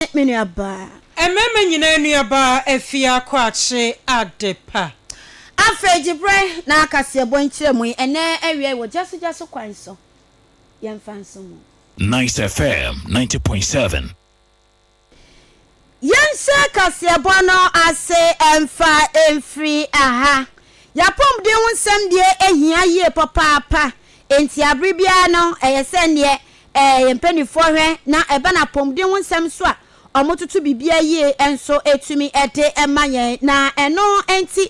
Amen me nuabaa. Mmarima nyinaa nuabaa Afia Kwakye Adepa. Afei gye berɛ na kaseɛbɔ nkyerɛmu yi ɛnnɛ awiai wɔ gyasogyaso kwan so. Yɛmfa nso mu. Nice FM ninety point seven. Yɛnhyɛ kaseɛbɔ no ase mfa mfiri ha. Y'apɔmuden ho nsɛm deɛ ɛhia yie papaapa, enti abere biara no ɛyɛ sɛ neɛ Ɛɛ, yɛn mpanimfoɔ hwɛ na ɛba no apɔmuden ho nsɛm nso a, wɔtoto biribiara yie nso tumi de ma yɛn. Na ɛno nti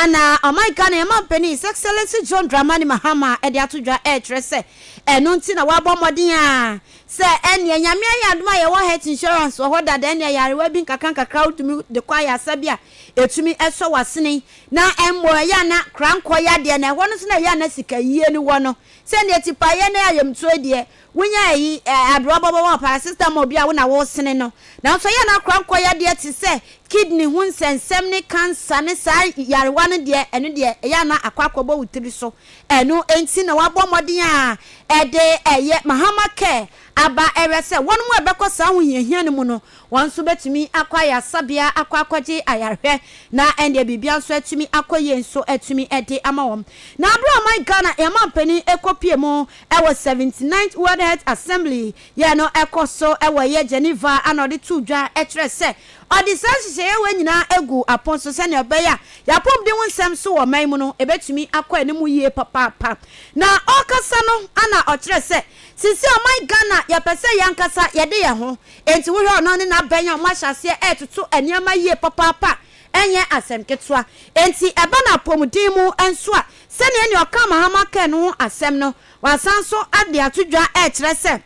na ɔman Ghana yɛn mampanin His Excellency John Dramani Mahama de ato dwa rekyerɛ sɛ, ɛno nti na wɔabɔ mmɔden a, sɛ ɛnneɛ Nyame ayɛ adom a yɛwɔ health insurance wɔ hɔ dada, ɛnneɛ ayarewa bi nkakrankakra a wotumi de kɔ ayarsa bi a, ɛtumi sɔ w'asene. Na mmom ɛyɛ a na korankɔ yadeɛ, na ɛhɔ no nso na ɛyɛ a na sikayie no wɔ no, Sɛ ndeɛ tipaeɛ ne ayamtuo deɛ wonya ayi ɛɛ adorɔ bɔbɔ wɔ paracetamol bi a wo na wosene no nanso ɛyɛ a na kora nkɔ yadeɛ te sɛ kidney ho nsɛnsɛm ne cancer ne saa yarewa no deɛ ɛno deɛ ɛyɛ a na akɔ akɔ bɔ wo tiri so ɛno nti na wabɔ mmɔden a ɛde ɛyɛ mahama care aba ɛwɛ sɛ wɔnom a ɛbɛkɔ saa ahohiahia no mu no Wɔn nso bɛtumi akɔ ayaresabea akɔ akɔgye ayarehwɛ, na ɛnneɛ biribiara nso atumi akɔ yie nso atumi de ama wɔn. Na berɛ a ɔman Ghana yɛn mampanin kɔpuee mu wɔ seventy ninth World Health Assembly yɛ no ɛkɔ so wɔ ɛyɛ Geneva a na ɔde too dwa kyerɛɛ sɛ ɔde saa nhyehyɛeɛ wei nyinaa guu apon so sɛdeɛ ɛbɛyɛ a yɛn apɔmuden ho nsɛm so wɔ ɔman mu no ɛbɛtumi akɔ anim yie papaapa. Na ɔrekasa no na ɔkyerɛɛ sɛ seesei ɔman Ghana yɛpɛ sɛ yɛn ankasa yɛde yɛn ho Enti wohwɛ ɔno ne n'abɛn a wɔahyɛ aseɛ retoto nneɛma yie papaapa a, ɛnyɛ asɛm ketewa. Enti ɛba no apɔmuden mu nso a, sɛdeɛ ɛnneɛ ɔkaa Mahama kaa no ho asɛm no, wɔasan nso de ato dwa rekyerɛ sɛ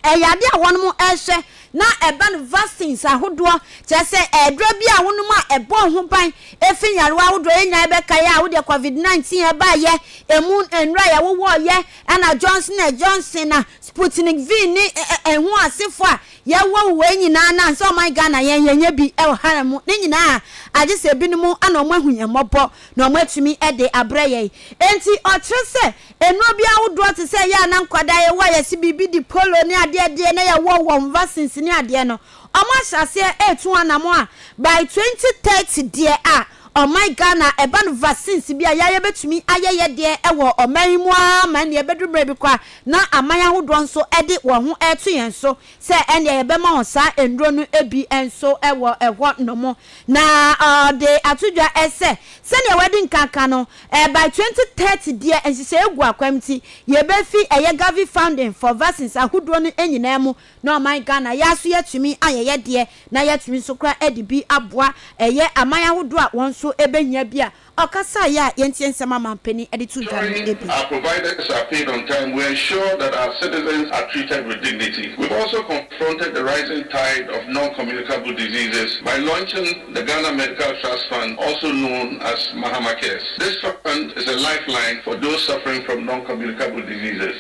ɛyɛ adeɛ a wɔnom rehwɛ na ɛba no vaccines ahodoɔ, kyerɛ sɛ aduro bi a wonom a ɛbɔ wo ho ban fi nyarewa ahodoɔ. Yɛn nyinaa yɛbɛkae a, wodeɛ Covid 19 baeɛ, ɛmu nnura a yɛwowɔeɛ, ɛna Johnson and Johnson a Sputnik V ne ɛho asefo a yɛwɔ wɔ wei nyinaa na ansa ɔman Ghana yɛn yɛnyɛ bi wɔ hare mu ne nyinaa agye sɛ ebinom na wɔn ahu yɛn mmɔbɔ na wɔn atumi de abrɛ yɛn. Enti ɔkyerɛ sɛ nnuro bi ahodoɔ te sɛ ɛyɛ a na nkwadaa yɛwɔ a yɛse biribi di polo ne adeɛ adeɛ na yɛwɔ wɔn vaccines ne adeɛ no wɔn ahyɛ aseɛ retu wɔn anamɔn a by 2030 deɛ a Ɔman Ghana ɛba no vaccines bi a yɛa yɛbɛtumi ayɛ yɛ deɛ ɛwɔ ɔman yi mu ara ma ɛnneɛ ɛbɛduru mmerɛ bi koraa na aman ahodoɔ nso ɛde wɔn ho ɛreto yɛn so sɛ ɛnneɛ yɛbɛma wɔn saa nnuro no bi nso wɔ ɛhɔ nom na ɔde ato dwa sɛ sɛdeɛ wadi nkan ka no by 2030 deɛ nhyehyɛeɛ gu akwan mu nti yɛbɛfi ɛyɛ Gavi funding for vaccines ahodoɔ no nyinaa mu na ɔman Ghana yɛa so yɛatumi ayɛ yɛdeɛ na yɛatumi nso koraa ɛde bi aboa ɛyɛ aman ahodoɔ a wɔn nso ɛbɛhia bi a ɔkasaeɛ a yɛntie nsɛm a manpanin ɛde to dwa no bi. Our providers are paid on time, we ensure that our citizens are treated with dignity. We also confronted the rising tide of non-communicable diseases by launching the Ghana Medical Trust Fund also known as Mahama Cares. This fund is a lifeline for those suffering from non-communicable diseases.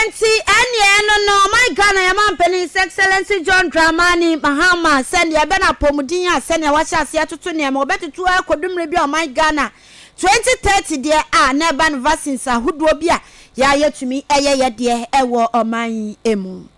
Enti ɛnneɛ ɛno no, my Ghana yɛn manpanin His Excellency John Dramani Mahama sɛ deɛ ɛbɛ no apɔmuden a sɛdeɛ wɔahyɛ aseɛ atoto nneɛma, wɔbɛtoto ara kɔdu mmerɛ bi a ɔman Ghana 2030 deɛ a na ɛba no vaccines ahodoɔ bi a yɛa yɛtumi yɛ yɛdeɛ wɔ ɔman yi mu.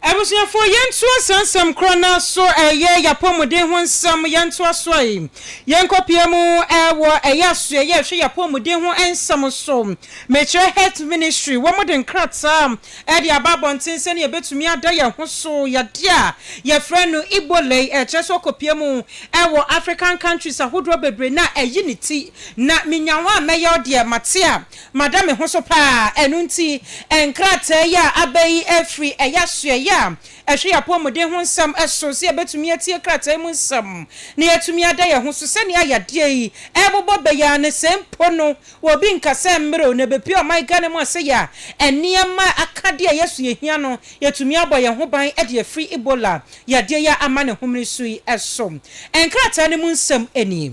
Abusuafoɔ, yɛntoa saa nsɛm korɔ no ara so, ɛyɛ y'apɔmuden ho nsɛm, yɛntoa so a yɛnkɔ pia mu wɔ ɛyɛ asoɛeɛ a ɛhwɛ y'apɔmuden ho nsɛm so. Mekyerɛ Health Ministry, wɔn de nkrataa de aba abɔnten sɛdeɛ yɛbɛtumi ada yɛn ho so yadeɛ a yɛfrɛ no Ebola yi, ɛkyerɛ sɛ ɔkɔ pia mu wɔ African countries ahodoɔ bebree no a, ayi ne ti na menya hɔ a mɛyɛ ɔdeɛ, mate a. Mada me ho so paa, ɛno nti nkrataa yi a aba yi firi ɛyɛ asoɛeɛ a ɛhwɛ yɛn apɔmuden ho nsɛm so sɛ yɛbɛtumi atie krataa yi mu nsɛm na yɛatumi ada yɛn ho so. Sɛnea yadeɛ yi rebobɔ bɛ yi ara ne sɛ mpo no obi nka sɛ mmerɛ o na ɛbɛpue ɔman Ghana mu asɛeɛ a, nneɛma a aka deɛ yɛ so yɛhia no yɛatumi abɔ yɛn ho ban de afiri Ebola yadeɛ yi a ama ne homene so yi so. Nkrataa no mu nsɛm nie.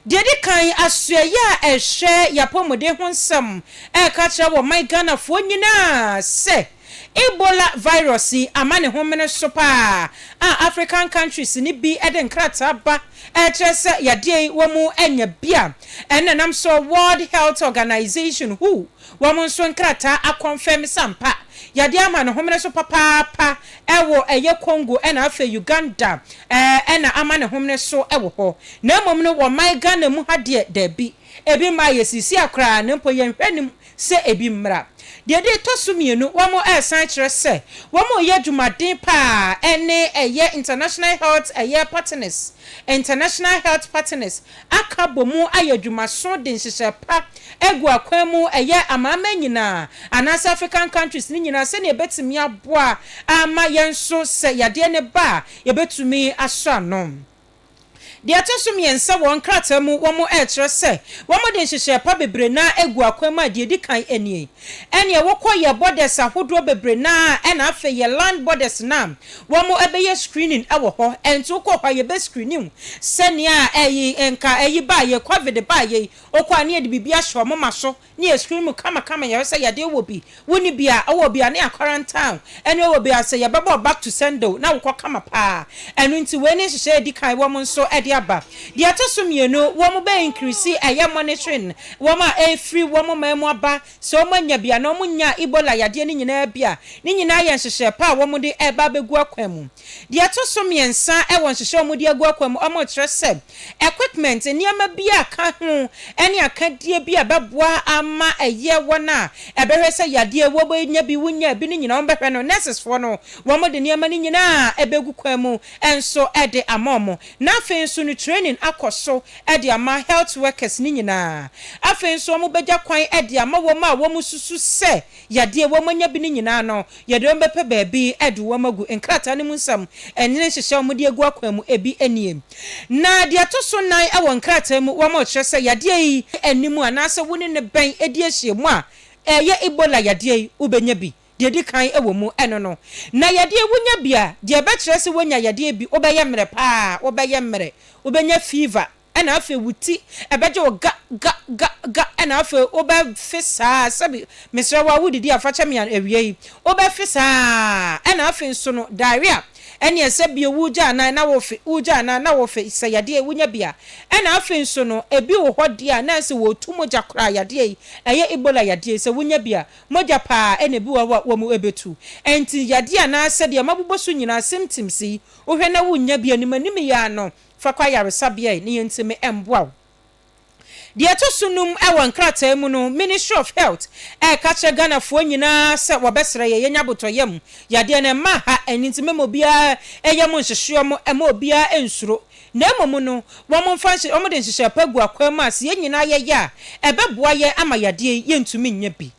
Deɛ ɛdi kan, asoɛeɛ a ɛhwɛ y'apɔmuden ho nsɛm reka kyerɛ wɔ man Ghanafoɔ nyinaa sɛ Ebola virus yi ama ne ho mene so paa a African countries no bi de nkrataa ba rekyerɛ sɛ yadeɛ yi wɔn mu anya bi a ɛnna nam so World Health Organization, who, Wɔn nso nkrataa akɔnfɛm sɛ ampa yɛde ama no homene so papaapa wɔ ɛyɛ Congo ɛna afei Uganda ɛna ama no homene so wɔ hɔ na mmom no wɔ man Ghana mu ha deɛ daabi ebi mmaa yɛsiisia koraa na mpo yɛnhwɛ anim sɛ ebi mmra. Deɛ de tɔ so mmienu wɔn ɛsan kyerɛ sɛ wɔn reyɛ adwumaden paa ɛne ɛyɛ International Health ɛyɛ Partners International Health Partners aka abɔ mu ayɛ adwumaso de nhyehyɛe pa agu akwan mu, ɛyɛ amanaman nyinaa anaasɛ African countries no nyinaa sɛnea ebetumi aboa ama yɛn nso sɛ yadeɛ no ba a yɛbɛtumi asɔ ano. Deɛ ɛtɔ so mmiɛnsa wɔn nkrataa mu wɔn ɛrekyerɛ sɛ wɔn de nhyehyɛe pa bebree no ara agu akwan mu a deɛ ɛdi kan nie, Ɛneɛ wokɔ yɛ borders ahodoɔ bebree no a ɛna afei yɛ land borders no a wɔn ɛbɛyɛ screening ɛwɔ hɔ ɛnti wokɔ hɔ a yɛbɛ screening wo sɛnea ɛyi nka ɛyi baa yɛ covid baa yɛ yi wokɔ a ne yɛde biribi ahyɛ wɔn ma so ne yɛ screening wo kama kama yɛhwɛ sɛ yadeɛ wɔ bi wo nni bi a wɔ bi a ne yɛ quarantine wo ɛneɛ wɔ bi a sɛ yɛbɛbɔ wo back to sender wo na wokɔ kama paa ɛno nti wei ne nhyehyɛɛ a ɛdi kan wɔn nso ɛde aba deɛ ɛtɔ so mmienu wɔn bɛ increase ɛyɛ monitoring Wɔn a ɛrefiri wɔn man mu aba, sɛ wɔanya bi anaa wɔnyaa Ebola yadeɛ no nyinaa bi a, ne nyinaa yɛ nhyehyɛɛ pa a wɔde reba abɛgu akwan mu. Deɛ ɛto so mmiɛnsa wɔ nhyehyɛɛ a wɔde agu akwan mu a wɔrekyerɛ sɛ equipment, nneɛma bi a ka ho ne akadeɛ bi a ɛbɛboa ama ɛyɛ wɔn a ɛbɛhwɛ sɛ yadeɛ wɔanya bi, wɔnyaa bi no nyinaa wɔbɛhwɛ no, nurses foɔ no, wɔde nneɛma no nyinaa bɛgu kwan mu nso de ama wɔn. Na afei nso no training akɔ so de ama health workers no nyinaa. Afei nso wɔn bɛgya kwan de ama wɔn a wɔn susu sɛ yadeɛ wɔn anya bi no nyinaa no yɛde wɔn bɛpɛ baabi de wɔn agu. Nkrataa no mu nsɛm ɛne nhyehyɛ a wɔn de agu akwan mu ebi nie. Na deɛ ɛto so nan wɔ nkrataa mu wɔn rekyerɛ sɛ yadeɛ yi nni mu anaasɛ wo ne no bɛn di ahyiamu a ɛyɛ Ebola yadeɛ yi wo bɛnya bi. deɛ ɛdi kan wɔ mu, ɛno no, na yadeɛ wonya bi a, deɛ ɛbɛkyerɛ sɛ woanya yadeɛ bi, wobɛyɛ mmerɛ pa ara, wobɛyɛ mmerɛ, wobɛnya fever, ɛna afei wo ti ɛbɛgye wo ga, ga, ga, ga, ɛna afei wobɛfe saa ara, sɛbi, mesrɛ wo a wodidi a fa kyɛ me awia yi, wobɛfe saa ara, ɛna afei nso no, diarrhea, ɛneɛ sɛ bio wogya anan na wofe, wogya anan na wofe, sɛ yadeɛ wonya bi a, ɛna afei nso no, ɛbi wɔ hɔ deɛ a na ɛsɛ sɛ wɔtu mogya koraa, yadeɛ yi, ɛyɛ Ebola yadeɛ yi, sɛ wonya bi a, Mogya paa na ebi wɔ hɔ a wɔn bɛtu. Ɛnti yadeɛ anaa sɛdeɛ mabobɔ so nyinaa symptoms yi wohwɛ na wonnya bi anim anim yi ara no fa kɔ ayaresabea yi na yɛntumi mboa wo. Deɛ ɛtɔ so num wɔ nkrataa mu no Ministry of Health ɛreka kyerɛ Ghanafoɔ nyinaa sɛ wɔbɛsrɛ yɛn yɛnya abotɔyam. Yadeɛ no mma ha ɛnti mema obiara yam nhyehyeɛ mo mma obiara nsuro Na mmom no, wɔmfa nhye, wɔde nhyehyɛe pa gu akwan mu a sɛ yɛn nyinaa yɛyɛ a, ɛbɛboa yɛn ama yadeɛ yi yɛntumi nyɛ bi.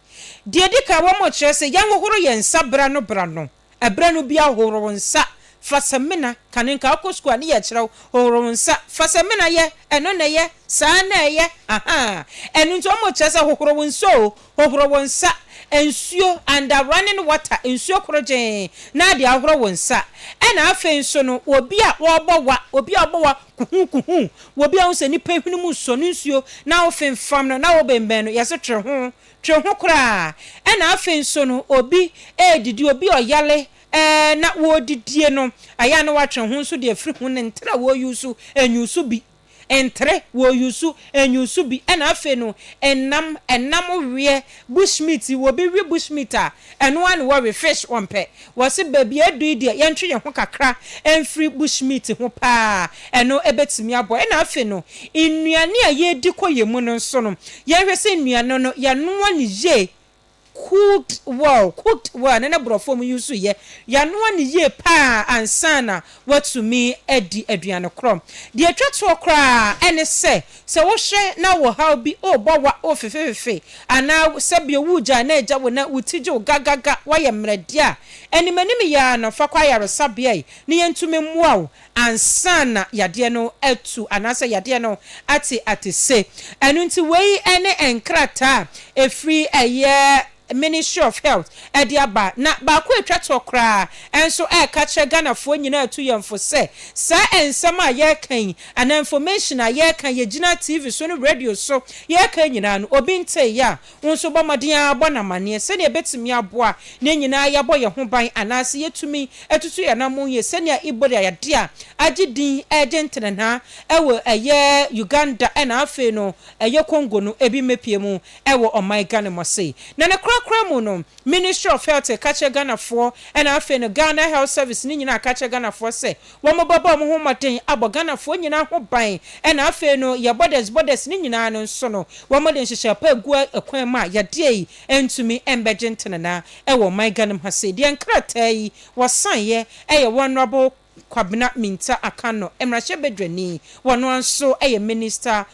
Deɛ ɛdi kan, wɔkyerɛ sɛ yɛnhohoro yɛn nsa berɛ no berɛ no. Ɛberɛ no biara hohoro wo nsa, fa samina, kane nka wokɔ sukuu a ne yɛkyerɛ wo, hohoro wo nsa, fa samina yɛ, ɛno na ɛyɛ, saa na ɛyɛ, ahaa. Ɛno nti wɔkyerɛ sɛ hohoro wo nsa o, Hohoro wo nsa, nsuo, under running water, nsuo korogyenn, na de ahoro wo nsa. Ɛna afei nso no, obi a ɔrebɔ wa, obi a ɔbɔ wa kuhuu kuhuu, obi a wohu sɛ nipa hwene mu sɔ no nsuo na wofemfam no na wobɛnbɛn no, yɛse twe ho, twe ho koraa. Ɛna afei nso no, obi redidi, obi ɔyale ɛɛ na wɔredidie no, ɛyɛ a na watwe ho nso de afiri ho ne ntere a wɔreusu, nyusu bi. ntere, wɔusu, nyusu bi, ɛna afei no nam, ɛnam weɛ, bush meat, wɔbi we bush meat a, ɛno ara na wɔwe, fish wɔmpɛ, wɔse baabi a aduru yi deɛ yɛntwe yɛn ho kakra mfiri bush meat ho pa ara, ɛno bɛtumi aboa. Ɛna afei no nnuane a yɛdi kɔ yɛn mu no nso no, yɛnhwɛ sɛ nnuane no yɛnoa no yie Cooked well, cooked well, ne ne brɔfoɔ mu use yɛ, yanoa no yie paa ansa na watumi adi aduane korɔ. Deɛ ɛtwa toɔ koraa ɛne sɛ, sɛ wohwɛ na wo haw bi ɔrebɔ wa o fefefefe anaa sɛbio wogyaa na agya wo na wo ti dwo gagaga wayɛ mmerɛdeɛ a, animanimyɛ ara no fa kɔ ayaresabea yi na yɛntumi mmoa wo ansa na yadeɛ no atu anaasɛ yadeɛ no ate atese. Ɛno nti wei ne nkrataa a ɛfiri ɛyɛ Ministry of Health de aba. Na baako a ɛtwa toɔ koraa nso reka kyerɛ Ghanafoɔ nyinaa a ɛtu yɛn fo sɛ, saa nsɛm a yɛreka yi anaa information a yɛreka, yɛgyina TV so ne radio so yɛreka nyinaa no, obi nteeɛ a Wo nso bɔ mmɔden ara bɔ no amanneɛ sɛnea ebetumi aboa na yɛn nyinaa yɛabɔ yɛn ho ban anaasɛ yɛatumi atutu yɛn anammɔn yie sɛnea Ebola yadeɛ a agye din regye ntenenaa wɔ ɛyɛ Uganda na afei no ɛyɛ Congo no bi mmɛpue mu wɔ ɔman Ghana mu ase. Na ne korakora mu no Ministry of Health reka kyerɛ Ghanafoɔ na afei no Ghana Health Service no nyinaa reka kyerɛ Ghanafoɔ sɛ Wɔbɛbɔ wɔn ho mmɔden abɔ Ghanafoɔ nyinaa ho ban ɛna afei no yɛn borders borders no nyinaa no nso no wɔde nhyehyɛɛ pa agu kwan mu a yadeɛ yi ntumi mbɛgye ntenena wɔ ɔman Ghanem ha sei deɛ nkrataa yi wɔsaeɛ ɛyɛ Honourable Kwabena Mintah Akanno mmarahyɛbadwani wɔno ara nso yɛ Minister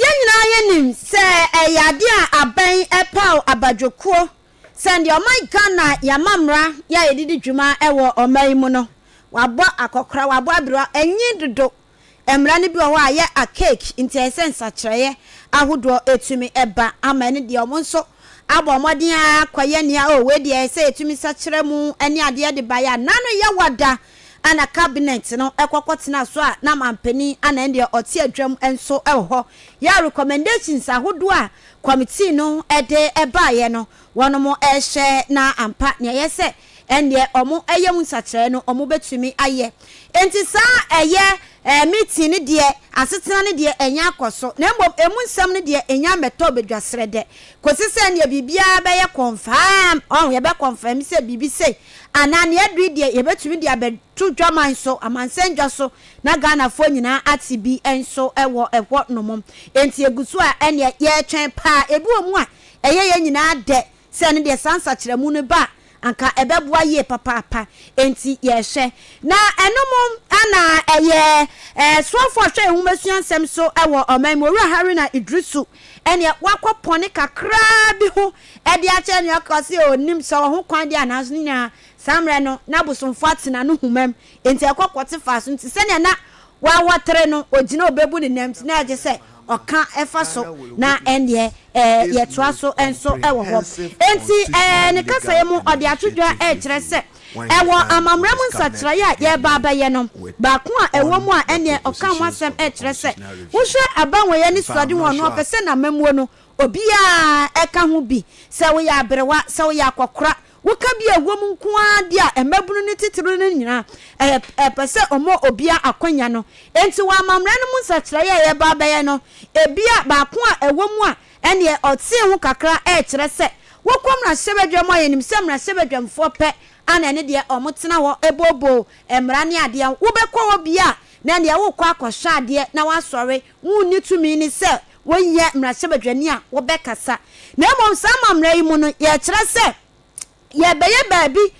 Yɛn nyinaa yɛnim sɛ ɛyɛ adeɛ a abɛn ɛpaw abadwokuo sɛ deɛ ɔman Ghana yɛn amammra yɛ a yɛdidi dwuma wɔ ɔman yi mu no wabɔ akɔkora, wabɔ abiriwa, ɛnyin dodo. Mmara no bi wɔ hɔ a yɛ archaic nti ɛyɛ sɛ nsakyerɛeɛ ahodoɔ ɛtumi ɛba ama ɛne deɛ wɔn nso abɔ mmɔden ara kɔyɛ nea oh wei deɛ ɛyɛ sɛ yɛtumi sakyerɛ mu ɛne adeɛ de baeɛ a n'ano yɛ wada a na cabinet no kɔ kɔtena so a na manpanin a na ɛnneɛ ɔte adwam nso wɔ hɔ yɛ a recommendations ahodoɔ a committee no de baeɛ no wɔnom rehyɛ na ampa nea ɛyɛ sɛ ɛnneɛ wɔn yɛ mu nsakyeraɛ no wɔn bɛtumi ayɛ nti saa ɛyɛ meeting no deɛ asetena no deɛ ɛnya akɔ so na mmom ɛmu nsɛm no deɛ ɛnya mmɛtɔ badwasrɛ dɛ kɔsi sɛ ɛnneɛ biribiara bɛyɛ confirm ɔho yɛbɛ confirm sɛ biribi sei anaa nea ɛdɔ yi deɛ yɛbɛtumi de abɛto dwaman so, amansɛn dwa so na Ghanafoɔ nyinaa ate bi nso wɔ hɔ nom. Enti ɛgu so a ɛnneɛ yɛretwɛn paa. Ebi wɔ mu a ɛyɛ yɛn nyinaa dɛ sɛ ɛno deɛ saa nsakyeramu no ba a anka ɛbɛboa yie papaapa. Enti yɛrehwɛ. Na ɛno mo a na ɛyɛ soafoɔ a ɔhwɛ yɛn nwomasua nsɛm so wɔ ɔman mu, Owura Haruna Iddrisu, ɛnneɛ wakɔ pɔne kakraa bi ho de akyerɛ nea ɔka sɛ onnim sɛ ɔho kwan de anaa nso ne nyinaa saa mmerɛ no na abosomfoɔ ate n'anohoma mu enti ɛkɔ kɔte faa so nti sɛdeɛ na wawɔtere no ɔgyina ɔbɛbu ne nam nti na ɛgye sɛ ɔka fa so na ɛndeɛ ɛɛ yɛtoa so nso wɔ hɔ enti ɛɛ ne kasaeɛ mu ɔde ato dwa ɛkyerɛ sɛ ɛwɔ amammerɛ mu nsakyeraeɛ a yɛreba abɛyɛ no baako a ɛwɔ mu a ɛnneɛ ɔka ho asɛm ɛkyerɛ sɛ wohwɛ abanwɔyɛ ne suade ho a ɔno ɔpɛ sɛ n'amammuo no Obiara, ɛka ho bi sɛ woyɛ aberewa, sɛ woyɛ akwakora, woka bi a ɛwɔ mu nko ara de a mmabunu no titiriw no nyinaa, ɛyɛ ɛpɛ sɛ wɔma obiara akwanya no. Enti wɔ amammerɛ no mu nsakyeraeɛ a yɛreba abɛyɛ no, ebia baako a ɛwɔ mu a ɛnneɛ ɔtee ho kakra rekyerɛ sɛ, wokɔ mmarahyɛbadwam a yɛnim sɛ mmarahyɛbadwamfoɔ pɛ a na ɛne deɛ wɔtena hɔ booboo mmara ne adeɛ, wobɛkɔ hɔ bi a na ɛnneɛ worekɔ akɔhwɛ adeɛ na woasɔre Wonni tumi ne sɛ wɔnyɛ mmarahyɛbadwani a wɔbɛkasa, na mmom saa amammerɛ yi mu no, yɛkyerɛ sɛ yɛrebɛyɛ baabi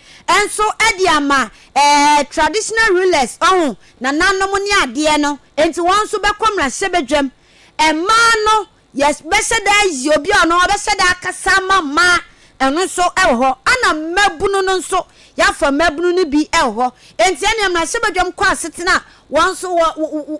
nso de ama eh, traditional rulers, ɔho, nananom ne adeɛ no, enti wɔn nso bɛkɔ mmarahyɛbadwam. Mmaa no, yɛbɛhyɛ da ayi obi a ɔno ɔbɛhyɛ da akasa ama mmaa, ɛno nso wɔ hɔ. Ɛna mmabunu no nso, yɛafa mmabunu no bi wɔ hɔ. Enti ɛnneɛ mmarahyɛbadwam kɔ asetena a wɔn nso wɔ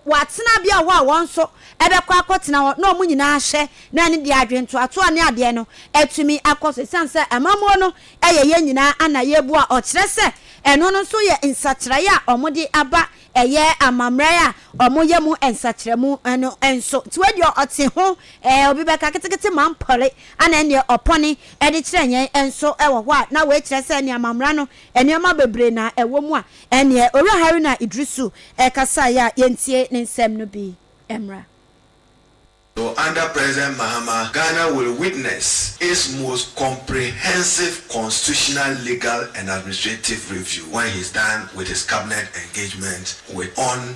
wɔatena bea hɔ a wɔn nso bɛkɔ akɔtena hɔ na wɔn nyinaa ahyɛ na ɛne deɛ adwene ntoatoa ne adeɛ no atumi akɔ so ɛsiane sɛ amammuo no yɛ yɛn nyinaa ana yɛbu a ɔkyerɛ sɛ ɛno no nso yɛ nsakyeraeɛ a wɔde aba ɛyɛ amammerɛ a wɔyɛ mu nsakyerɛmu no nso nti wei deɛ ɔte ho ɛɛ obi bɛka ketekete ma mpɔre ana ɛneɛ ɔpɔne ɛde kyerɛ yɛn nso ɛwɔ hɔ a na wei kyerɛ sɛ ɛne amammerɛ no nneɛma bebree na ɛwɔ mu a Ɛnneɛ Owura Haruna Iddrisu kasaeɛ a yɛntie ne nsɛm no bi mmra. So under President Mahama Ghana will witness its most comprehensive constitutional, legal and administrative review when he's done with his cabinet engagement with on.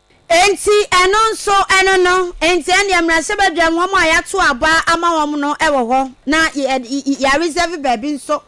Enti ɛno nso ɛno no, enti ɛnneɛ mmarahyɛ badwam wɔn a yɛato aba ama wɔn no wɔ hɔ na yɛaresɛve baabi nso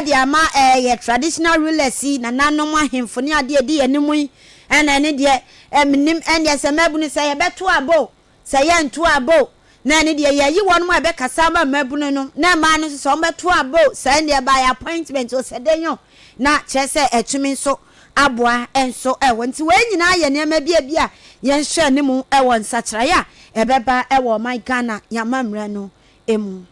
de ama yɛn traditional rulers yi, nananom ahemfo ne adeɛ a ɛdi yɛn anim yi, ɛnna ɛno deɛ mennim, ɛnneɛ sɛ mmabunu sɛ yɛbɛto aba o, Sɛ yɛnto abo na ɛne deɛ yɛayi wɔn a ɛbɛkasa ama mmabunu no na mmaa no nso sɛ wɔbɛto abo saa nneɛ by appointment osɛdɛnyɔ na kyerɛ sɛ ɛtumi nso aboa nso wɔ nti wei nyinaa yɛ nneɛma bi a bi a yɛnhwɛ ne mu wɔ nsakyeraeɛ a ɛbɛba wɔ ɔman Ghana yɛn amamerɛ no mu.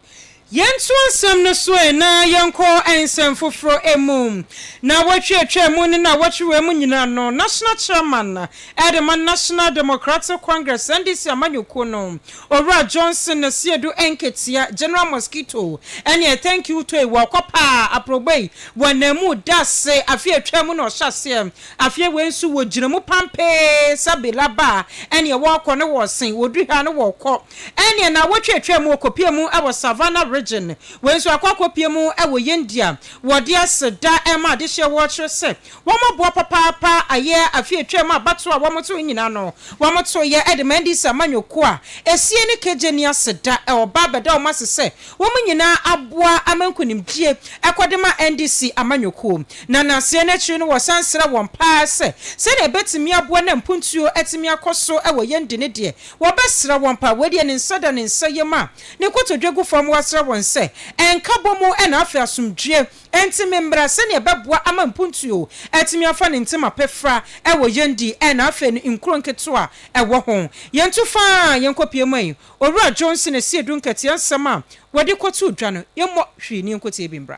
Yɛnto asɛm no so ɛ na yɛnkɔ nsɛm foforɔ mu. Nnawɔtwe a atwaa mu ne nnawɔtwe wei mu nyinaa no, National Chairman de ma National Democratic Congress, NDC, amanyɔkuo no, Owura Johnson Asiedu Nketia, General Mosquito, ne ɛ Thank You Toi, wɔkɔ paa aprɔbɔ yi wɔ ananmu da ase afe a atwaa mu na ɔhyɛ aseɛ. Afeɛ wei nso wɔgyina mu pampee sɛ Bilaba ne wɔkɔ ne wɔsen, wɔduru ha ne wɔkɔ. Ɛnneɛ na wɔtwatwaa mu kɔpuee mu wɔ Savannah Region. Wei nso akɔ akɔpue mu wɔ yɛn di a wɔde aseda rema adehyeɛ wɔ kyerɛ sɛ wɔaboa papaapa ayɛ afe atwaa mu a abatoɔ a wɔtoo nyinaa no wɔtoeɛ de maa NDC amanyɔkuo a ɛsie ne Kegye ne aseda a wɔba abɛda wɔn ase sɛ wɔn nyinaa aboa ama nkunimdie ɛkɔ de ma NDC amanyɔkuo na naseɛ no akyiri no wɔsan srɛ wɔn paa sɛ sɛdeɛ ɛbɛtumi aboa na mpuntuo atumi akɔ so wɔ yɛn di ne deɛ Wɔbɛsra wɔn paa. Wei deɛ ne nsa da ne nsa yam a, ne nkotodwe gu fam, wasra wɔn sɛ, Nkabɔ mu na afei asomdwoeɛ. Enti memmra sɛdeɛ ɛbɛboa ama mpuntuo atumi afa ne ntam apefra wɔ yɛn di na afei no nkuro nketewa a ɛwɔ ho. Yɛntu fa yɛnkɔpue mu yi. Owura Johnson, Asiedu Nkɛteɛ nsɛm a wɔde kɔtoo dwa no, yɛmmɔ hwee na yɛnkɔtie bi mmra.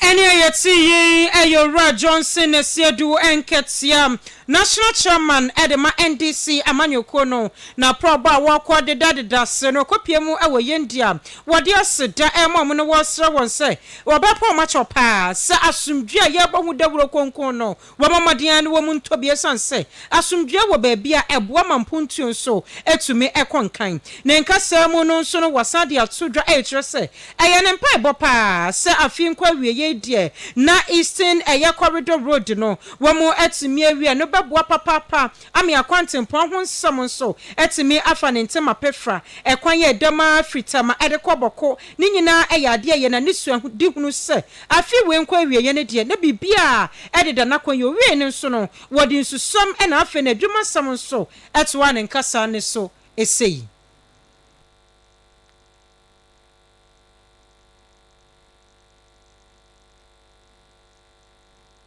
Ɛnea yɛte yi yɛ Owura Johnson Nasiadu Nkɛtea, National Chairman de ma NDC amanyɔkuo no, n'aprɔbɔ a wɔkɔ dedadeda se no kɔpie mu wɔ Yendi a wɔde aseda rema wɔn no wɔresrɛ wɔn sɛ wɔbɛpɔ wɔn akyɛw paa sɛ asomdwie a yɛrebɔ ho dawuro kronkron no Wɔma mmɔden ara na wɔn mu ntɔ bi esiane sɛ asomdwoeɛ wɔ baabi a ɛboa ma mpontuo nso tumi kɔ nkan. Ne nkasa mu no nso no, wɔsan de ato dwa rekyerɛ sɛ ɛyɛ ne mpaebɔ pa ara sɛ afei nkɔ awieeɛ deɛ na Eastern ɛyɛ Corridor Road no wɔatumi awie a, ɛno bɛboa papaapa ama akwantempɔn ho nsɛm nso atumi afa ne ntɛm apɛfra. Ɛkwan a ɛdam ara firi Tama de kɔ Bɔko no nyinaa yɛ adeɛ a ɛyɛ na ne suadihunu sɛ Afe wei nkɔ awieɛ no deɛ na biribiara ɛdeda n'akwan yie. Owiee no nso no, wɔde nsusɛm na afei n'adwumasɛm nso toaa ne nkasa no so sei.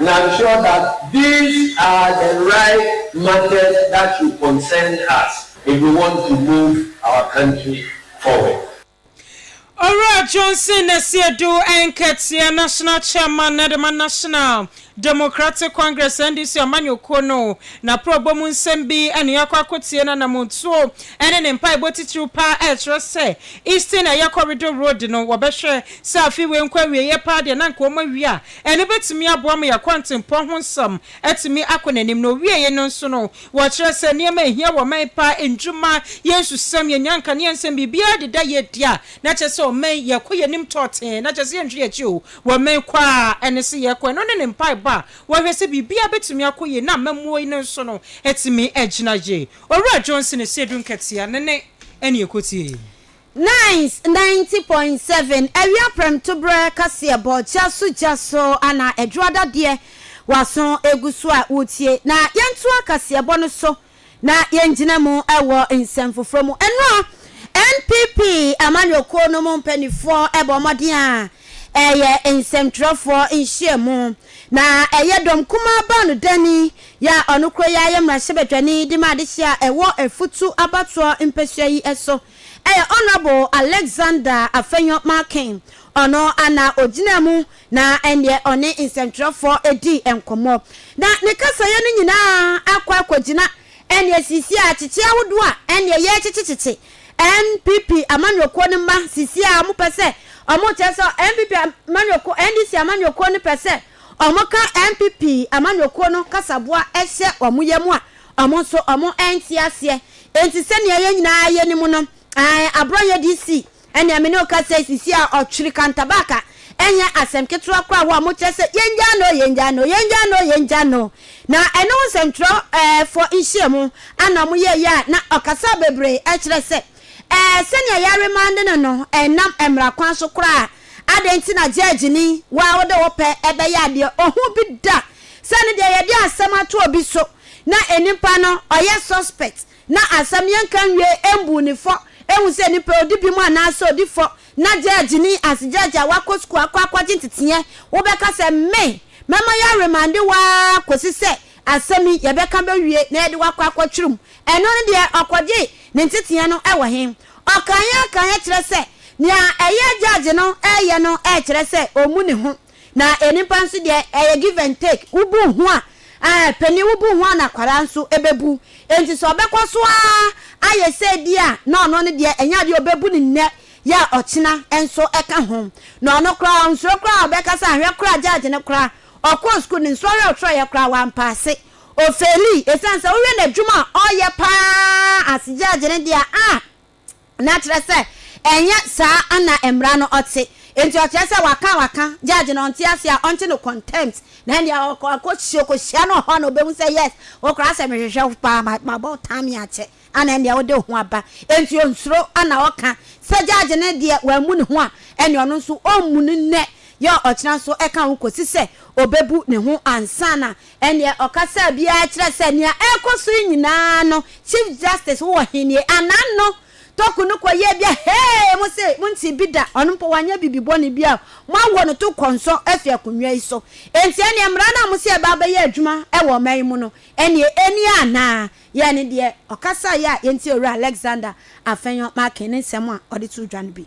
Na sure that these are the right matters that should concern us if we want to move our country forward. Owura Johnson Nasiadu Nketiah, National Chairman na dema National Democratic Congress, NDC, amanyɔkuo no, n'aprɔbɔ mu nsɛm bi ne yɛakɔ akɔtie n'anamontuo ne ne mpaebɔ titiriw pa a ɛkyerɛ sɛ Eastern Ayɛ Corridor Road no wɔbɛhwɛ sɛ afe wei nkɔ awieeɛ paa deɛ na anka wɔawie a Ɛno betumi aboa ma yɛn kwantempɔn ho nsɛm atumi akɔ n'anim. Na owiei no nso no, wɔkyerɛ sɛ nneɛma a ehia wɔ ɔman paa, nnwuma, yɛn nsusɛm, yɛn nnyanka, ne yɛn nsɛm, biribiara deda yɛ adi a, na kyerɛ sɛ ɔman yi, ɛkɔ yɛn anim tɔɔtee, na kyerɛ sɛ yɛnhwɛ yɛn akyi o, wɔ ɔman kɔ a ɛne sɛ yɛkɔ. Ɛno ne ne mpaebɔ a wɔhwɛ sɛ biribiara betumi akɔ yie, na amammuo yi no nso no atumi agyina yie. Owura Johnson Asiedu Nkɛtea ne ne ɛne ɛkɔtie. Nice ninety point seven awia prɛmtoberɛ kaseɛbɔ gya so gya so ana aduru adadeɛ w'aso gu so a woretie na yɛntoa kaseɛbɔ no so na yɛngyina mu wɔ nsɛm foforɔ mu nnora NPP amanyɔkuo no mu mpaninfoɔ bɔ mmɔden a ɛyɛ nsɛmtwerɛfoɔ nhyiamu na ɛyɛ dɔm kumaa baanodani yɛ a ɔno koro yɛ ayɛ mmarahyɛbadwani de ma adehyeɛ a ɛwɔ afutu abatoɔ mpasua yi so. ɛyɛ Honourable Alexander Afenyo Markin, ɔno na ɔgyinaa mu na ɛnneɛ ɔne nsɛntwerɛfoɔ dii nkɔmmɔ. Na ne kasaeɛ no nyinaa akɔ akɔgyina ɛnneɛ seesei a kyekye ahodoɔ a ɛnneɛ yɛrekyekyekyekye NPP amanyɔkuo no mma seesei a wɔpɛ sɛ wɔkyerɛ sɛ NPP amanyɔkuo, NDC amanyɔkuo no pɛ sɛ wɔka NPP amanyɔkuo no kasaboa hyɛ wɔn yam a Wɔn nso wɔnte aseɛ. Enti sɛdeɛ yɛn nyinaa yɛnim no, aane, aborɔ yɛ DC. Ɛnneɛ me ne wo ka sɛ, sisi a ɔtwere kantabaaka nyɛ asɛm ketewa koraa wɔ a mokyerɛ sɛ yɛngyaa no o, yɛngyaa no o, yɛngyaa no o, yɛngyaa no o. Na ɛno ho nsɛmtwerɛfoɔ nhyiamu a na wɔyɛeɛ a na ɔkasaa bebree kyerɛ sɛ ɛɛ sɛdeɛ yɛremande no no nnam mmara kwan so koraa. Adɛn nti na gyɛɛgyeni, wo a wode wo pɛ bɛyɛ adeɛ, ɔhu bi da a Sɛ no deɛ yɛde asɛm ato obi so na nipa no ɔyɛ suspect na asɛm yɛnka nwiee ɛmbu no fɔ ɛhu sɛ nipa yi ɔdi binom anaasɛ ɔdi fɔ na judge ni as judge a wakɔ school akɔ akɔgye nteteɛ wobɛka sɛ me mɛma yɛ remande wo ara kɔsi sɛ asɛm yi yɛbɛka bɛwie na yɛde wo akɔ akɔtwerɛ mu ɛno no deɛ ɔkɔgye ne nteteɛ no wɔ he? Ɔkaeɛ kaeɛ kyerɛ sɛ nea ɛyɛ judge no reyɛ no rekyerɛ sɛ ɔmmu ne ho. Na nnipa nso deɛ ɛyɛ give and take, wobu wo ho a, ɛɛ, panin wobu wo ho a na akwadaa nso bɛbu. Enti sɛ ɔbɛkɔ so ara ayɛ sɛ di a, na ɔno no deɛ ɛnyɛ adeɛ a ɔbɛbu no nnɛ yɛ a ɔkyena nso ka ho. Na ɔno koraa ɔnsuro koraa a ɔbɛka sɛ ahwɛ koraa judge no koraa ɔkɔɔ sukuu no nsɔhwɛ a ɔsɔhwɛeɛ koraa wampaase, ɔfeeli. Ɛsiane sɛ wohwɛ n'adwuma a ɔreyɛ pa ara as judge no deɛ a, na kyerɛ sɛ ɛnyɛ saa ana mmara no ɔte. Enti ɔkyerɛ sɛ waka a waka, judge no ɔnte ase a, ɔnte no contempt, na ɛnneɛ ɔkɔ akɔhyia, ɔkɔhyia no wɔ hɔ a na ɔbɛhu sɛ yes, wo koraa sɛ mehwehwɛ wo paa, ma, mabɔ wo taame akyɛ, ana ɛnneɛ wode wo ho aba. Enti ɔnsuro ana ɔka. Sɛ judge no deɛ wammu ne ho a, ɛnneɛ ɔno nso ɔmmu no nnɛ, yɛ ɔkyena nso ɛka ho kɔsi sɛ ɔbɛbu ne ho ansa na Ɛnneɛ ɔkasa biara kyerɛ sɛ nea ɛrekɔ so yi nyinaa no Chief Justice wowɔ he nie? Anan no Toku no kɔ yɛɛ bi a hee mo se mo ntee bi da, ɔno mpo wanyɛ bibi bɔne bi a mo awɔ no to kɔnsɔ afi akonnwa yi so. Enti ɛnneɛ mmara no a mo se ɛba abɛyɛ adwuma wɔ ɔman yi mu no ɛnneɛ ɛnnie anaa? Yɛɛ ne deɛ ɔkasaeɛ a yɛntie Owura Alexander Afenyo Markin ne nsɛm a ɔde too dwa no bi.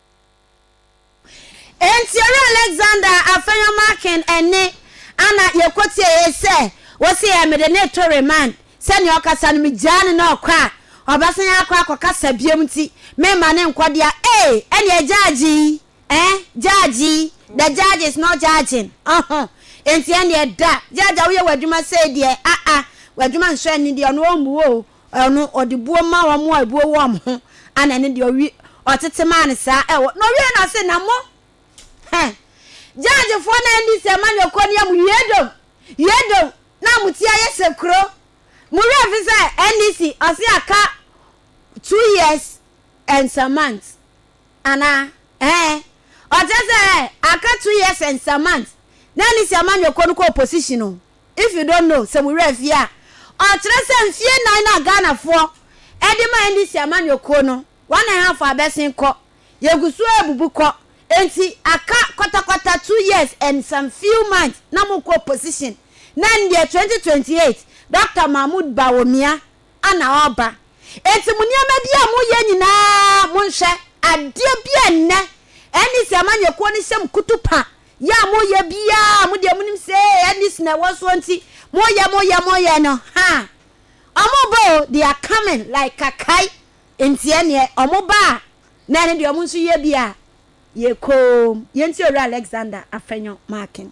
Enti ɔyɛ Alexander afɛnyɔ makin ɛne ana yɛkɔtie yɛ sɛ wɔse yɛ mede ne to remand sɛnea ɔkasa no megyaa no na ɔkɔ a ɔbɛsan akɔ akɔkasa biom nti memma no nkɔ dea ee ɛneɛ judge yi eh judge yi the judge is not judging ɔho enti ɛneɛ da judge a woyɛ w'adwuma sei deɛ ah ah w'adwuma nsɔ ani deɛ ɔno ɔmmu oo Ɛno ɔde buo maa wɔn a ebuo wɔ wɔn ho, ɛna ɛno deɛ ɔwi, ɔtete maa no saa ɛwɔ, na ɔwiee no ɔse, na mo, hɛ, gyaajefoɔ no a ɛndi sɛ ma nyɔkɔ ni amu yi yɛdom, yɛdom, na amu ti ayɛ sɛ kuro, mo werɛ mfi sɛ NDC ɔse aka two years and some months anaa, ɛɛ, ɔkyerɛ sɛ ɛɛ, aka two years and some months na NDC ama nyɔkɔ no kɔ opposition o. If you don't know, sɛ mo werɛ afi a, ɔkyerɛ sɛ mfeɛ nnan no a Ghanafoɔ de maa NDC amanyɔkuo no, one and half abɛsen kɔ. Yɛgu so rebubu kɔ. Enti aka kɔtakɔta two years and some few months na mokɔ opposition. Na ɛndeɛ twenty twenty eight, Doctor Mahmoud Bawumia ana ɔreba. Enti mo nneɛma bi a moyɛ nyinaa monhwɛ. Adeɛ bi a nnɛ NDC amanyɛkuo no hyɛ mo kutu pa yɛ a moyɛ biara a mo deɛ monim sɛ ee NDC na ɛwɔ soɔ nti moyɛ moyɛ moyɛ no haa wɔreba o, they are coming like kakae nti ɛneɛ wɔba a na ɛne deɛ wɔn nso yɛ bi a yɛkɔɔm. Yɛntie Owura Alexander Afenyo Markin.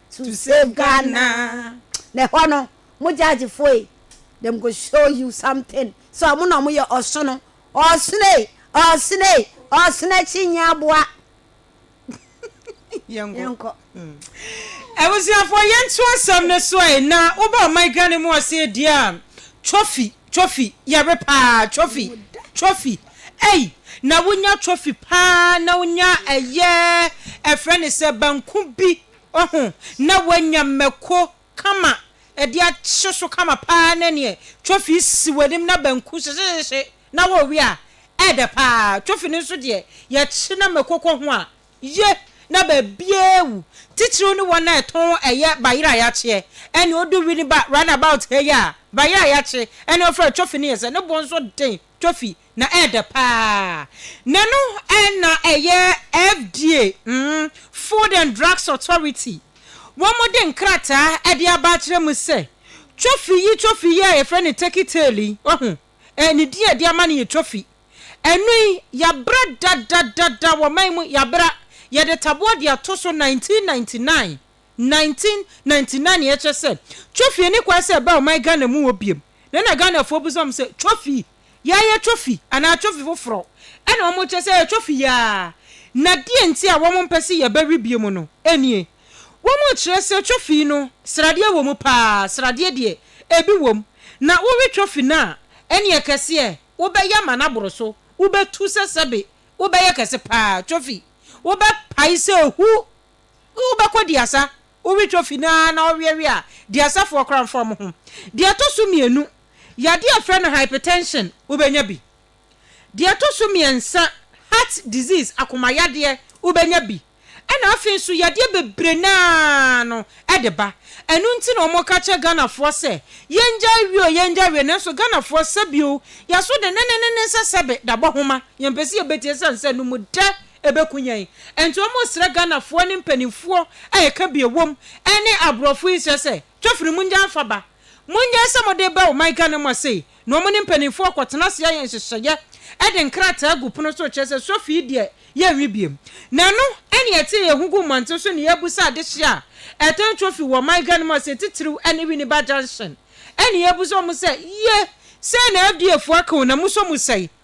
to save Ghana na ɛhɔ no mo judge foɔ yi dem go show you something sɛ ɔmo na ɔmo yɛ ɔsono ɔsono ei ɔsono ei ɔsono akyi nyɛ aboa yɛnkɔ. Abusuafoɔ yɛnto asɛm no so ei na woba ɔman Ghana mu ɔsee deɛ a trophy trophy yɛre paa trophy trophy ei na wonya trophy paa na wonya ɛyɛ ɛfrɛ ne sɛ banku bi Wahu, na wanya mako kama de ahyɛ so kama paa na neɛ twofi si w'anim na banku hyehyehyehye na worewe a, ɛɛdɛ paa. Twofi no nso deɛ, yɛkye na mako kɔ ho a, ye na baabiara wu. Titiriw ne wɔn a ɛtɔn ɛyɛ bayerɛ a yɛakyeɛ. Ɛnneɛ ɔdu Winneba round about ha yi a, bayerɛ a yɛakye, ɛne ɔfrɛ twofi no yɛ sɛ ne bo nso den twofi na ɛɛdɛ paa na no na ɛyɛ FDA, Food and Drugs Authority, wɔn de nkrataa de aba akyerɛ mu sɛ trophy yi, trophy yi a yɛfrɛ no turkey tail yi, wahu, ne din a yɛde ama no yɛ trophy, ɛno yi yɛabra dadadada wɔ man mu, yɛabra, yɛde taboɔ de ato so 1999, 1999 na yɛkyerɛ sɛ trophy ani kwan sɛ ɛba ɔman Ghana mu hɔ biom, na na Ghanafoɔ bisa wɔn sɛ trophy yi. Yɛayɛ trophy anaa trophy foforɔ na wɔkyerɛ sɛ ɛyɛ trophy yi ara, na deɛ nti a wɔmpɛ sɛ yɛbɛwe biom no nie, Wɔkyerɛ sɛ trophy no sradeɛ wɔ mu pa ara, sradeɛ deɛ ebi wɔ mu, na wowe trophy no a, ɛnneɛ kɛseɛ wobɛyɛ ama no aboro so, wobɛtu sɛ sɛbe wobɛyɛ kɛse pa ara, trophy wobɛpae sɛ hu, wobɛkɔdi asa. Wowe twofi no ara na ɔweɛweɛ a, di asafo ɔkoramfoɔ mo ho. Deɛ ɛtɔ so mmienu, yadeɛ a yɛfrɛ no hypertension, wobɛnya bi. Deɛ ɛtɔ so mmiɛnsa, heart disease, akomayadeɛ, wobɛnya bi. Ɛna afei nso yadeɛ bebree no ara no de ba. Ɛno nti na wɔka kyerɛ Ghanafoɔ sɛ, yɛngyae we o, yɛngyae we. Nanso Ghanafoɔ, sɛbi o, yɛaso denenenene sɛ sɛbe dabɔhoma. Yɛmpɛ sɛ yɛbɛtie ɛsiane sɛ ɛno mu dɛ. ɛbɛku yɛn. Ɛnti wɔn resrɛ Ghanafoɔ ne mpaninfoɔ a ɛka bi ɛwom ɛne aborɔfo yi nsrɛ sɛ, twofiri mu ngyan fa ba. Monyɛ sɛ mode reba ɔman Ghana mu asei na wɔn ne mpaninfoɔ rekɔtena ase ayɛ nhyehyɛeɛ de nkrataa agu pono so rekyerɛ sɛ Sofi yi deɛ yɛnwe biom. Na ɛno na yɛtee yɛn ho guu mmɔnten so ne yɛrebusa adehyeɛ a ɛtɔn Twofi wɔ ɔman Ghana mu asei titiriw ɛne Winneba Junction ɛne yɛrebusa wɔn sɛ, Yie! Sei na LDAfoɔ aka o, na musɔ mu sɛi?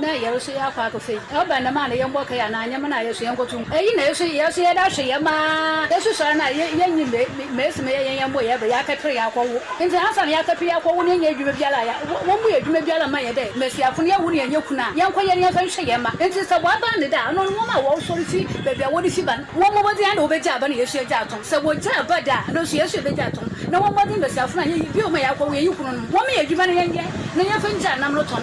na yɛroso yɛ akɔ akɛfa yi, ɔba dɛm a na yɛmbɔ kae anaa nyɛma no a yɛso yɛnkɔto mu. Eyi na yɛso yɛso yɛda ahwɛ yɛ ma yɛsusɔre no a yɛnye mesi ma yɛyɛ yɛn bo yɛ bɛ yɛakɛper yɛakɔwo. Ntsi ansaana yɛakɛper yɛakɔwo no yɛnyɛ edwuma biara a wɔmmbɔ yɛ edwuma biara mma yɛ dɛ mbasiafo no yɛwo no yɛnnyɛ kun a yɛnkɔ yɛn yɛnkɔ nhwɛ yɛ mma. Ntsi sɛ wɔaban no dɛ a ɔno no wɔn a wɔroso refi beebi a wɔde fi ba no wɔmmɔ mbɔdzen ara dɛ wɔbɛgyaa aba na yɛso yɛgyaa tɔn. Sɛ wɔgyaa aba dɛ a no so yɛso yɛbɛgyaa tɔn na wɔmmɔ mbɔdzen mbasiafo no a yɛye bio ma yɛakɔwo yɛnye kununom wɔmeyɛ edwuma no yɛnyɛ na yɛmfa ngyaa nam no tɔn.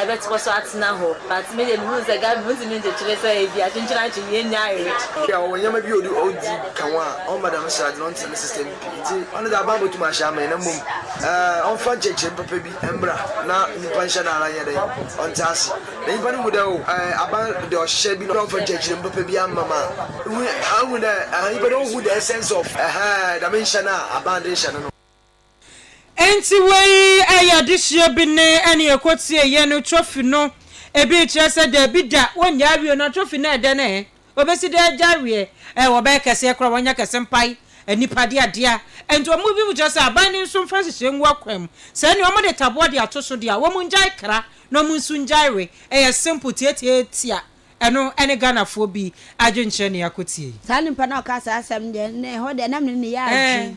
ɛbɛkɔ so atena hɔ but me deɛ me hu sɛ government wɔn ntumi nkyekyere sɛ ebi a kyenkyen akye yie nyɛ ayere. Ebia ɔwɔ nneɛma bi a ɔde ɔdi ka ho a ɔmma dɛm srade no ɔntra ne system pi nti ɔno deɛ aban bɛtum ahyɛ ama yɛn na mmom eh ɔnfa nkyerɛkyerɛm papa bi mmra na nipa nhyɛ no ara nyɛ dɛn ɔnte ase na nipa no hu dɛ oh eh aban deɛ ɔhyehyɛ bi na ɔnfa nkyerɛkyerɛm papa bi amma ma ehu ahu dɛ eh nipa no ɔhu the essence of eh dɛm nhyɛ no a aban de rehyɛ no no. Enti wei yɛ adesua bi ne ɛne ɛkɔtie yɛ no trophy no ebi rekyerɛ sɛ daabi da wɔnnya awie no trophy no ɛdɛn ɛɛ wɔbɛsi dɛn agya awie ɛɛ wɔbɛyɛ kɛseɛ koraa wɔanya kɛse mpae nnipa de adea enti wɔn bi mu kyerɛ sɛ aban no nso mfa nhyehyɛ ngu akwan mu sɛ ɛne wɔn de taboa de ato so deɛ wɔn ngyae kra na wɔn nso ngyae we ɛyɛ simple tiatiatia ɛno ɛne Ghanafoɔ bi adwenkyerɛ ne akɔtie yi. Saa nipa no a ɔkaa saa asɛm no deɛ, na ɛhɔ deɛ na me ne no yɛ adwene.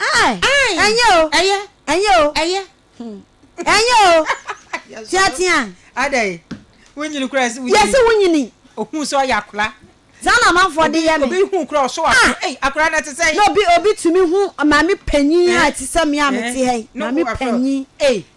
Ae, ɛnyɛ o, ɛyɛ, ɛnyɛ o, ɛyɛ, ɛnyɛ o, teatea. Adɛn, wonyini koraa sɛ wonyini. Yɛse wonyini. Ohuu sɛ ɔyɛ akora. Saa na amanfoɔ de yɛ me. Obi huu koraa ɔsɔ wakora, ah! ei, akora no te sɛn? Na obi, obi tumi hu maame panyin a ɛte sɛ me a mete ha yi, maame panyin, ei,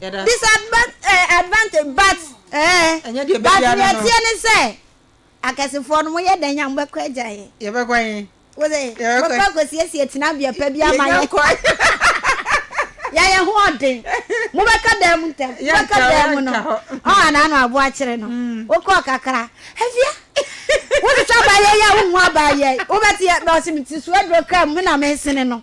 Disadvantage but eh but nea ɛteɛ ne sɛ akɛsefoɔ no moyɛ dɛn a mobɛkɔ agya yɛn. Yɛbɛkɔ he? Wose mobɛkɔ akɔsiesie tenabea pa bi ama yɛn. Yɛyɛ ho ɔden. Mobɛka dan mu ntɛm. Mobɛka dan mu no. Ɔn anaa no abo akyere no. Wokɔɔ kakra. Afia wohwehwɛ abaayewa yi a wonhu abaayewa yi wobɛte yɛ na ɔse mete suaduro kaa mu me na mesene no.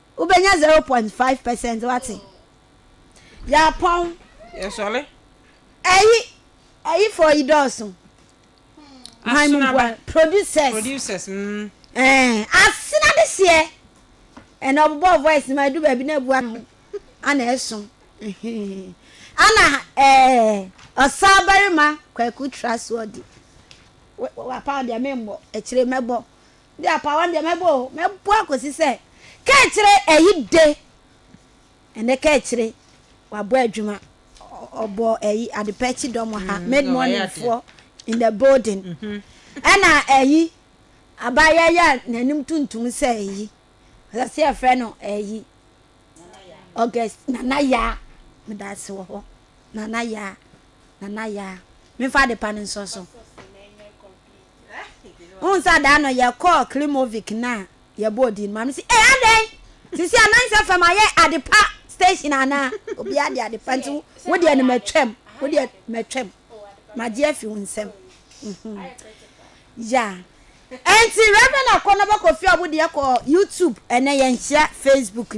Wobɛnya zero point five percent wate. Yɛapɔn. Yɛsɔre. Ɛyi ɛyi fɔ yi dɔɔso. Hwan mu bua producers. Producers mm. Ɛɛ asena de seɛ. Ɛna ɔbobɔ voice no ma edu baabi na ebu ano ana ɛso. Ana ɛɛ ɔsaa barima kwaku tra soɔ di. Wapa deɛ memmɔ akyire mɛbɔ. Deɛ apawa no deɛ mɛbɔ o, mɛbɔ akɔsi sɛ kaakyire ayi de. Ɛnɛ kaakyire wabɔ adwuma, ɔbɔ ayi adepɛ akyi dɔm wɔ ha, mm, mid morning foɔ in the building. Mhm. Ɛna ayi abaayɛ yɛ n'anim tuntum sɛ ayi ɔsɛ sɛ yɛfrɛ no ayi August nana yaa meda ase wɔ hɔ nana yaa nana yaa mefa adepa no nsɔ so. Wohu sɛ adaa no yɛkɔɔ Klimovic no a yɛbɔɔ din no, Maame se, Ee, adɛn? Seesei anansɛ fam ayɛ Adepa station anaa? Obiara de Adepa nti wo deɛ no matwam, wo deɛ matwam, magye afi wo nsam. Ya. Enti Rev. Akɔnɔba Kofi Ɔbo deɛ kɔɔ YouTube, ɛnnɛ yɛnhyia Facebook nti.